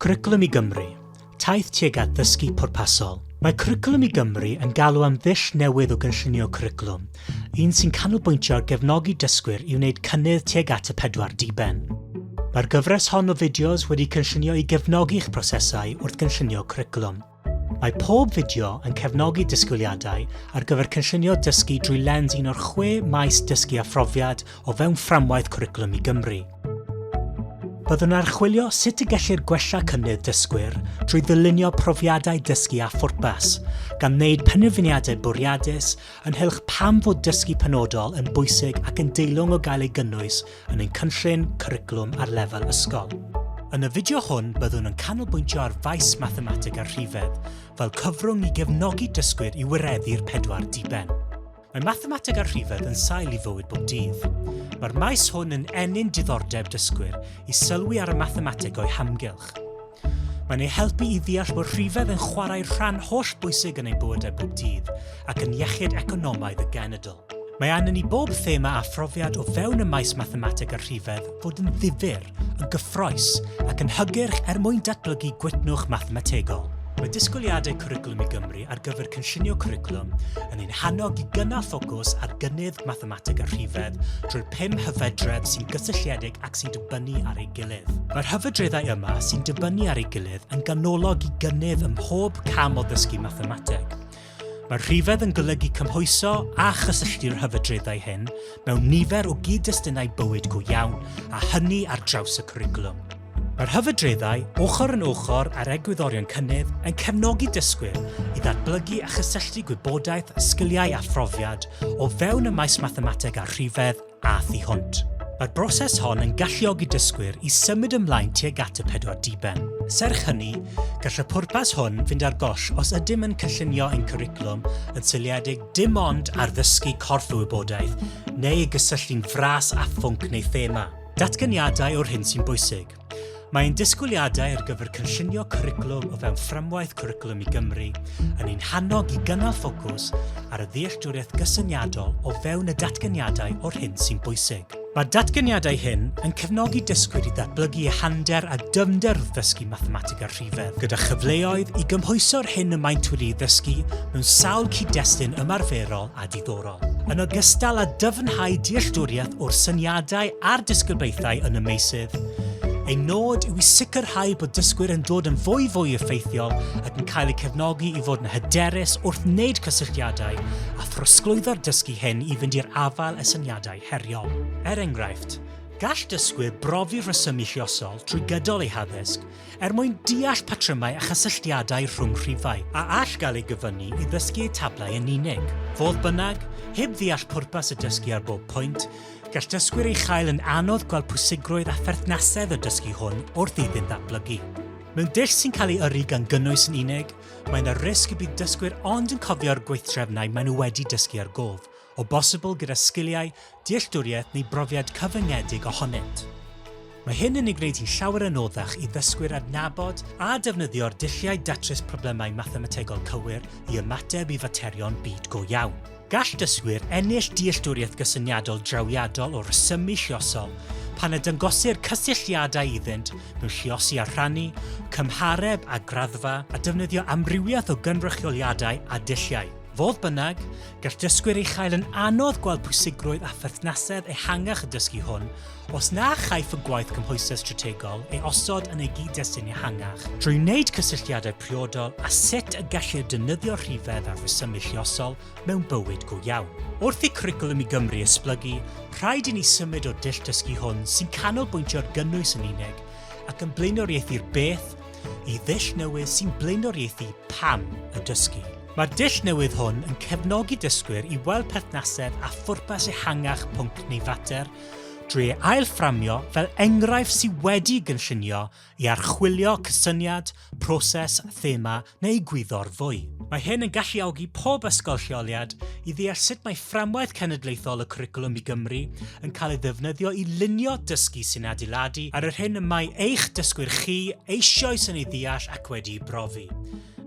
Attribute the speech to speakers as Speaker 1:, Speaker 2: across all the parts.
Speaker 1: Cwricwlwm i Gymru, Taith tuag at ddysgu pwrpasol. Mae Cwricwlwm i Gymru yn galw am ddull newydd o gynllunio cwricwlwm, un sy'n canolbwyntio ar gefnogi dysgwyr i wneud cynnydd tuag at y pedwar diben. Mae'r gyfres hon o fideos wedi cynllunio i gefnogi eich prosesau wrth gynllunio cwricwlwm. Mae pob fideo yn cefnogi disgwyliadau ar gyfer cynllunio dysgu drwy lens un o'r chwe maes dysgu a phrofiad o fewn fframwaith Cwricwlwm i Gymru. Byddwn yn archwilio sut y gellir gwella cynnydd dysgwyr drwy ddylunio profiadau dysgu â phwrpas, gan wneud penderfyniadau bwriadus ynghylch pam fod dysgu penodol yn bwysig ac yn deilwng o gael ei gynnwys yn ein cynllun cwricwlwm ar lefel ysgol. Yn y fideo hwn byddwn yn canolbwyntio ar faes mathemateg a rhifedd fel cyfrwng i gefnogi dysgwyr i wireddu'r pedwar diben. Mae mathemateg a rhifedd yn sail i fywyd bob dydd. Mae'r maes hwn yn ennyn diddordeb dysgwyr i sylwi ar y mathemateg o'i hamgylch. Mae'n ei helpu i ddeall bod rhifedd yn chwarae rhan holl bwysig yn ein bywydau bob dydd ac yn iechyd economaidd y genedl. Mae angen i bob thema a phrofiad o fewn y maes mathemateg a rhifedd fod yn ddifyr, yn gyffroes ac yn hygyrch er mwyn datblygu gwytnwch mathemategol. Mae disgwyliadau Cwricwlwm i Gymru ar gyfer cynllunio cwricwlwm yn ein hannog i gynnal ffocws ar gynnydd mathemateg a rhifedd drwy'r pum hyfedredd sy'n gysylltiedig ac sy'n dibynnu ar ei gilydd. Mae'r hyfedreddau yma sy'n dibynnu ar ei gilydd yn ganolog i gynnydd ym mhob cam o ddysgu mathemateg. Mae'r rhifedd yn golygu cymhwyso a chysylltu'r hyfedreddau hyn mewn nifer o gyd-destunau bywyd go iawn, a hynny ar draws y cwricwlwm. Mae'r hyfedreddau, ochr yn ochr ar egwyddorion cynnydd, yn cefnogi dysgwyr i ddatblygu a chysylltu gwybodaeth, sgiliau a phrofiad o fewn y maes mathemateg a rhifedd a thu hwnt. Mae'r broses hon yn galluogi dysgwyr i symud ymlaen tuag at y pedwar diben. Serch hynny, gall y pwrpas hwn fynd ar goll os ydym yn cynllunio ein cwricwlwm yn seiliedig dim ond ar ddysgu corff y wybodaeth neu ei gysylltu'n fras â phwnc neu thema. Datganiadau yw'r hyn sy'n bwysig. Mae ein disgwyliadau ar gyfer cynllunio cwricwlwm o fewn fframwaith cwricwlwm i Gymru yn ein hannog i gynnal ffocws ar y ddealltwriaeth gysyniadol o fewn y datganiadau o'r hyn sy'n bwysig. Mae'r datganiadau hyn yn cefnogi dysgwyr i ddatblygu ehander a dyfnder wrth ddysgu mathemateg a rhifedd, gyda chyfleoedd i gymhwyso'r hyn y maent wedi'i ddysgu mewn sawl cyd-destun ymarferol a diddorol. yn ogystal â dyfnhau dealltwriaeth o'r syniadau a'r disgribaethau yn y meysydd. Ein nod yw i sicrhau bod dysgwyr yn dod yn fwy fwy effeithiol ac yn cael eu cefnogi i fod yn hyderus wrth wneud cysylltiadau a throsglwyddo'r dysgu hyn i fynd i'r afael â syniadau heriol. Er enghraifft, gall dysgwyr brofi rhesymu lluosol trwy gydol eu haddysg er mwyn deall patrymau a chysylltiadau rhwng rhifau, a all gael ei gyfyngu i ddysgu eu tablau yn unig. Fodd bynnag, heb ddeall pwrpas y dysgu ar bob pwynt, gall dysgwyr ei chael yn anodd gweld pwysigrwydd a pherthnasedd y dysgu hwn wrth iddynt ddatblygu. Mewn dull sy'n cael ei yrru gan gynnwys yn unig, mae yna risg y bydd dysgwyr ond yn cofio'r gweithdrefnau maen nhw wedi dysgu ar gof, o bosibl gyda sgiliau, dealltwriaeth neu brofiad cyfyngedig ohonynt. Mae hyn yn ei gwneud hi'n llawer anoddach i ddysgwyr adnabod a defnyddio'r dulliau datrys problemau mathemategol cywir i ymateb i faterion byd go iawn. Gall dysgwyr ennill dealltwriaeth gysyniadol drawiadol o resymu lluosol pan y dangosir cysylltiadau iddynt mewn lluosi a rhannu, cymhareb a graddfa, a defnyddio amrywiaeth o gynrychioliadau a dulliau. Fodd bynnag, gall dysgwyr ei chael yn anodd gweld pwysigrwydd a pherthnasedd ehangach y dysgu hwn os na chaiff y gwaith cymhwysedd strategol ei osod yn ei gyd-destun ehangach. Drwy wneud cysylltiadau priodol â sut y gellir defnyddio rhifedd ar resymu lluosol mewn bywyd go iawn. Wrth i Cwricwlwm i Gymru esblygu, rhaid i ni symud o'r dull dysgu hwn sy'n canolbwyntio ar gynnwys yn unig ac yn blaenoriaethu'r beth i ddull newydd sy'n blaenoriaethu pam y dysgu. Mae'r dull newydd hwn yn cefnogi dysgwyr i weld perthnasedd a phwrpas ehangach pwnc neu fater drwy ei ail-fframio fel enghraifft sydd wedi'i gynllunio i archwilio cysyniad, proses, thema neu gwyddor fwy. Mae hyn yn galluogi pob ysgol lleoliad i ddeall sut mae fframwaith cenedlaethol y Cwricwlwm i Gymru yn cael ei ddefnyddio i lunio dysgu sy'n adeiladu ar yr hyn y mae eich dysgwyr chi eisoes yn ei ddeall ac wedi'i brofi.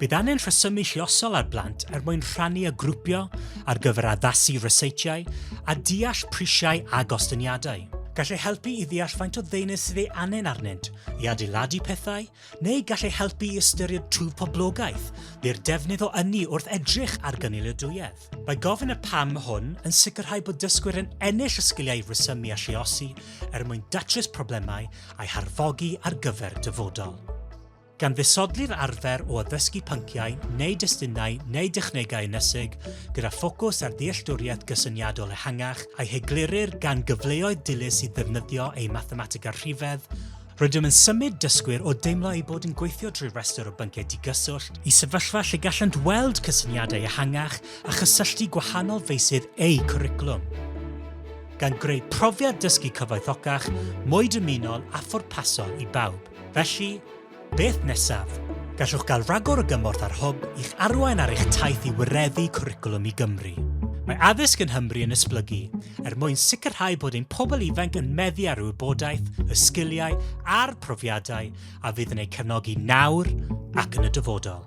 Speaker 1: Bydd angen rhesymu lluosol ar blant er mwyn rhannu a grwpio ar gyfer addasu ryseitiau a deall prisiau a gostyngiadau. Gall ei helpu i ddeall faint o ddeunydd sydd ei angen arnynt i adeiladu pethau, neu gall ei helpu i ystyried twf poblogaeth neu'r defnydd o ynni wrth edrych ar gynaliadwyedd. Mae gofyn y pam hwn yn sicrhau bod dysgwyr yn ennill y sgiliau rhesymu a lluosi er mwyn datrys problemau a'u harfogi ar gyfer dyfodol. gan ddisodli'r arfer o addysgu pynciau neu destunau neu dechnegau ynysig gyda ffocws ar ddealltwriaeth gysyniadol ehangach a'i heglurir gan gyfleoedd dilys i ddefnyddio eu mathematega rhifedd, rydym yn symud dysgwyr o deimlo eu bod yn gweithio drwy restr o bynciau digyswllt i sefyllfa lle gallant weld cysyniadau ehangach a chysylltu gwahanol feysydd eu cwricwlwm, gan greu profiad dysgu cyfoethocach, mwy dymunol a phwrpasol i bawb. Felly, beth nesaf? Gallwch gael rhagor o gymorth ar Hwb i'ch arwain ar eich taith i wireddu Cwricwlwm i Gymru. Mae addysg yn Nghymru yn esblygu, er mwyn sicrhau bod ein pobl ifanc yn meddu ar y wybodaeth, y sgiliau a'r profiadau a fydd yn eu cefnogi nawr ac yn y dyfodol.